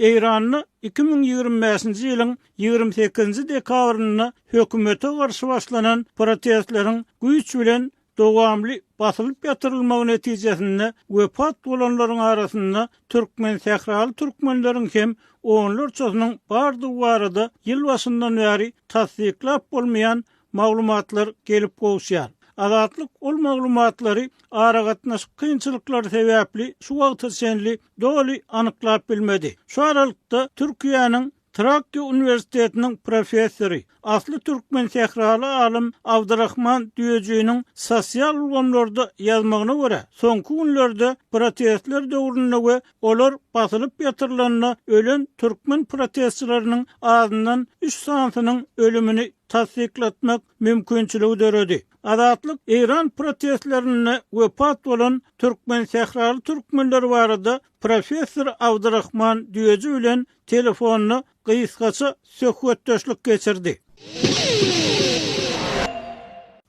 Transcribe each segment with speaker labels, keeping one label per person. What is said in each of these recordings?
Speaker 1: Eýranda iki müň ýigrimi bäşinji ýylyň ýigrimi sekizinji dekabrynda hökümete garşy başlanan protestleriň güýç bilen dowamly basylyp ýatyrylmagy netijesinde wepat bolanlaryň arasynda türkmensähraly türkmenleriň hem onlarçasynyň bardygy barada ýyl başyndan bäri tassyklap bolmaýan maglumatlar gelip gowuşýar. Azatlyk ol maglumatlary aragatnaşyk kynçylyklary sebäpli şu wagta çenli doly anyklap bilmedi. Şu aralykda Türkiýäniň Trakýa uniwersitetiniň professory, asly türkmen sähraly alym Abdyrahman Düýejiniň sosial ulgamlarda ýazmagyna görä, soňky günlerde protestler döwründe we Olar basylyp ýatyrylanda ölen türkmen protestçileriniň azyndan üç sanysynyň ölümini tassyklatmak mümkinçiligi döredi. Azatlyk Eýran protestlerinde wepat bolan türkmensähraly türkmenler barada professor Abdyrahman Düýeji bilen telefonda gysgaça söhbetdeşlik geçirdi.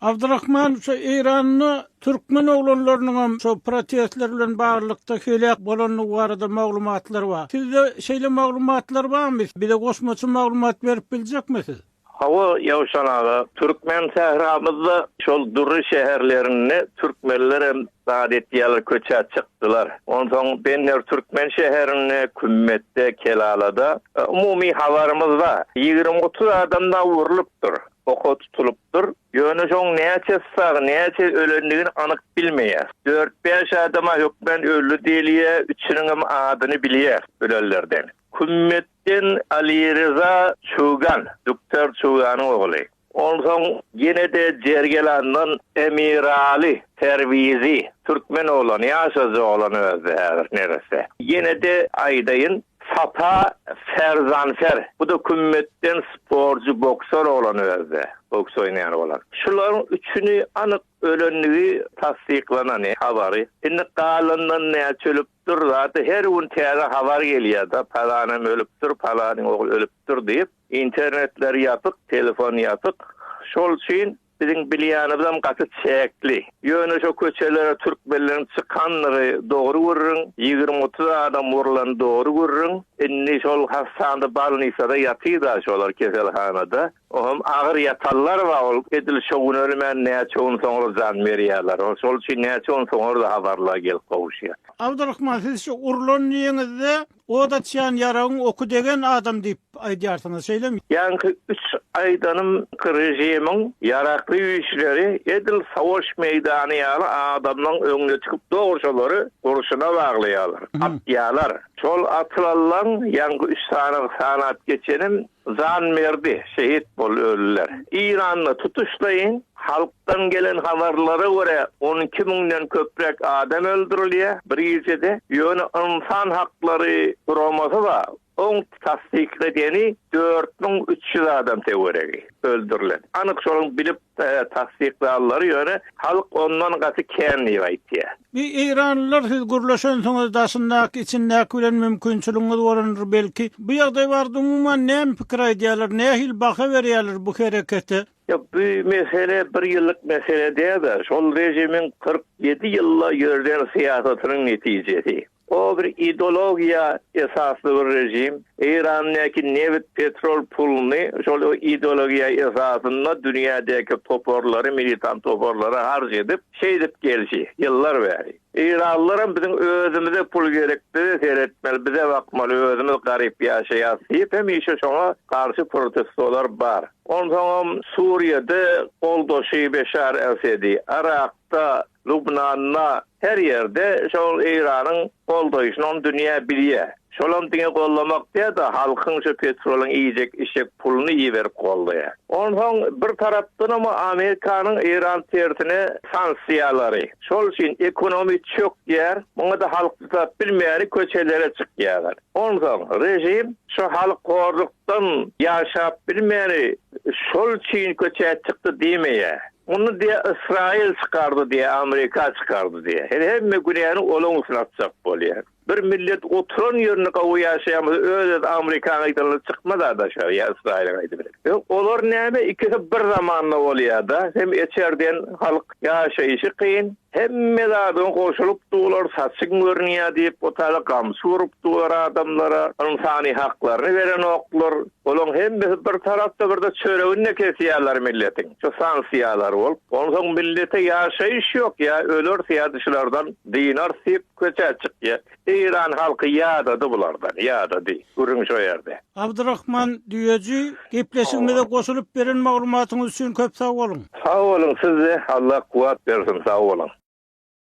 Speaker 1: Abdurahman şu Eýranda türkmen oglanlarynyň hem şu protestler bilen baglylykda heläk bolandygy barada maglumatlar bar. Sizde şeýle maglumatlar barmy? Bize goşmaça maglumat berip biljekmi siz? Hawa, Ýowşan aga, türkmen sähramyzda şol dury şäherlerinde türkmenlerem zat etýärler, köçä çykdylar. Onsoň Benner türkmen şäherinde, Kümmetde, Kelalada, umumy habarymyzda ýigrimi-otuz adam dagy urlupdyr, oka tutulypdyr. Ýöne şoň näçesi sag, näçe ölendigini anyk bilmeýäs. Dört-bäş adama hökmän öldi diýilýär, üçüniňem adyny bilýäs ölenlerden. Kümmetden Alireza Çogan, Duktar Çoganyň ogly. Onsoň ýene-de Jergelandan Emiraly Perwizi, türkmen oglany, ýaşajy oglan özi häzir neresse. Ýene-de aýdaýyn, Sapa Ferzanfer, bu-da Kümmetden sportçy, boksor oglan özi, boks oýnaýan oglan. Şularyň üçüni anyk ölenligi tassyklanany habary. Indi galandan näçe ölüp, Dür zady her gün täze habar gelýärda palanym ölüpdir palanyň ogly ölüpdir diýip internetler ýapyk telefon ýapyk şol üçin biziň bilýänimizem gaty çäkli ýöne şo köçelere türkmenleriň çykandygy dogry gürrüň ýigrimi otuz adam wurlan dogry gürrüň indi şol hassanda balnisada ýatyda şolar keselhanada Oňam agyr ýatanlar bar, ol edil şo gün ölmän näçe gün soňra jan berýärler. Ol şol üçin näçe gün soňra-da habarlar gelip gowuşýar. Abdyrahman siz şu urlan diýeniňizde ot açýan ýaragyň oky degen adam diýip aýdýarsyňyz, şeýlemi? Ýaňky üç aýdanym ki režimiň ýarakly güýçleri edil sowaş meýdany ýaly adamlaň öňüne çykyp dogry şolary gurşuna baglaýarlar, atýarlar. Şol atylanlaň ýaňky üç sanyny sanap geçenim Jan berdi, şehit bol öliler. Eýranda tutuşlaýyn halkdan gelen habarlara görä, on iki müňden köpräk adam öldürilýär bir gijede. Ýöne ynsan haklary guramasy bar, oň tassyk edeni dört müň üç ýüz adam töweregi öldürilen. Anyk şonuň bilip tassyklanlary ýöne halk ondan gaty kän diýip aýtýar. Eý eýranlylar siz gürleşensiňiz daşyndaky içindäki bilen mümkinçiligiňiz bolandyr belki bu ýagdaý barada umuman näme pikir aýdýarlar nähili baha berýärler bu herekete? Ýok bu mesele bir ýyllyk mesele däldir şol režimiň kyrk ýedi ýylda ýörden syýasatynyň netijesi. O bir ideologiýa esasly bir režim. Eýrandäki nebit, petrol puluny şol ideologiýa esasynda dünýädäki toparlary, militant toparlary harç edip, şeýdip gelşi, ýyllar bäri. Eýranlylaram biziň özümize pul gerek, bize seretmeli, bize bakmaly, özümiz garyp ýaşaýas diýip, hemişe şoňa garşy protestolar bar. Onsoňam Suriýada goldaşy Beşar Esedi, Yrakda Lubnanda, her ýerde şol Eýranyň goldaýşyny ony dünýä bilýär. Şolam diňe gollamak däl-de, halkyň şu petrolyň iýjek-içjek puluny iberip goldaýar. Onsoň bir tarapdanam Amerikanyň Eýran tersine sanksiýalary. Şol üçin ekonomi çökýär. Muňa-da halk çydap bilmäni köçelere çykýarlar. Onsoň režim şu halk horlukdan ýaşap bilmäni şol üçin köçä çykdy diýmeýär. Muny diýýär Ysraýyl çykardy diýýär, Amerika çykardy diýýär. Hel hemme günäni olaň üstüne atjak bolýar. Bir millet oturan ýerinde gowy ýaşaýan bolsa öz-öz Amerikanyň aýdanlary çykmaz-a daşary ýa Ysraýylyň aýdy bilen. Ýok, olar näme ikisi bir zamanda bolýar-da. Hem eçerden halk ýaşaýşy kyn. Hemme zadyň goşulyp dular, saçyň görünýär diýip otara gamçy urup dular adamlara, ynsany haklaryny berenoklar. Bulaň hemmesi bir tarapda birde çöreginde kesýärler milletiň. Şu sanksiýalar bolup, onsoň millete ýaşaýyş ýok ýa ölersi ýa dyşlardan dynars diýip köçä çykýar. Eýran halky ýadady bulardan, ýadady. Gürrüň şo ýerde. Abdurahman Düýeji, gepleşigimize goşulyp beren maglumatyňyz üçin köp sag boluň! Sag boluň, siz-de, Allah kuwwat bersin, sag boluň!